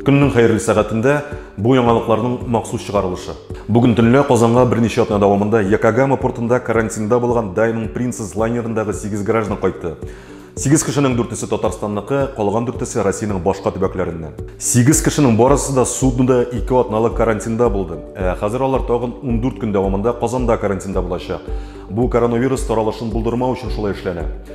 Көннең хәерле сәгатендә бу яңалыкларның махсус чыгарылышы. Бүген төнлә Казанга берничә атна дәвамында Якогама портында карантинда булган Diamond Princess лайнерындагы 8 граждан кайтты. 8 кешенең дүртесе Татарстанныкы, калган дүртесе Россиянең башка төбәкләреннән. 8 кешенең барысы да суднода 2 атналык карантинда булды. Ә хәзер алар тагын 14 көн дәвамында Казанда карантинда булачак. Бу коронавирус таралышын булдырмау өчен шулай эшләнә.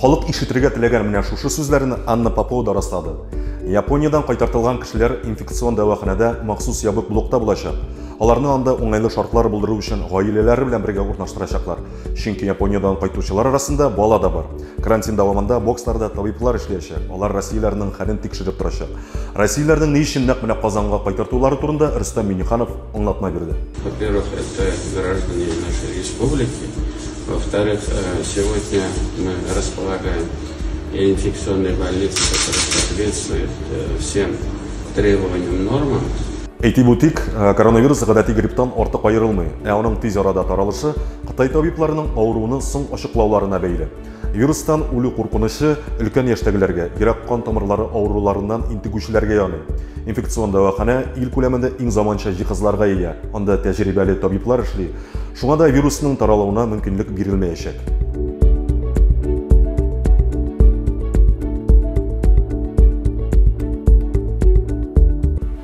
Халык ишетергә теләгән менә шушы сүзләрне Анна Попова да раслады. Япониядән кайтартылган кешеләр инфекцион дәваханәдә махсус ябык блокта булачак. Аларны анда уңайлы шартлар булдыру өчен гаиләләре белән бергә урнаштырачаклар. Чөнки Япониядән кайтучылар арасында бала да бар. Карантин дәвамында боксларда табиблар эшләячәк, алар россияләрнең хәлен тикшереп торачак. Россияләрнең ни өчен нәкъ менә Казанга кайтартулары турында Рөстәм Миңнеханов аңлатма бирде. Во-первых, это граждане нашей республики. Во-вторых, сегодня мы располагаем и инфекционной больницей, которая соответствует всем требованиям, нормам. Әйтеп үтик, коронавирус гадәти грипптан артык аерылмый, ә аның тиз арада таралышы Кытай табибларының авыруның соң ачыклауларына бәйле. Вирустан үлү куркынычы өлкән яшьтәгеләргә, йөрәк кан тамырлары авыруларыннан интегүчеләргә яный. Инфекцион дәваханә ил күләмендә иң заманча җиһазларга ия. Анда тәҗрибәле табиблар эшли, Шуңа да вирусның таралуына мөмкинлек бирелмәячәк.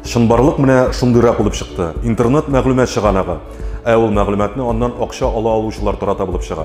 Чынбарлык менә шундыйрак булып чыкты. Интернет мәгълүмат чыганагы. Ә ул мәгълүматны аннан акча ала алучылар тарата булып чыга.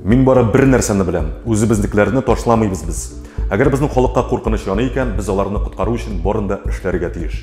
Мин бары бер нәрсәне беләм, үзебезнекеләрне ташламыйбыз без. Әгәр безнең халыкка куркыныч яный икән, без аларны коткару өчен барын да эшләргә тиеш.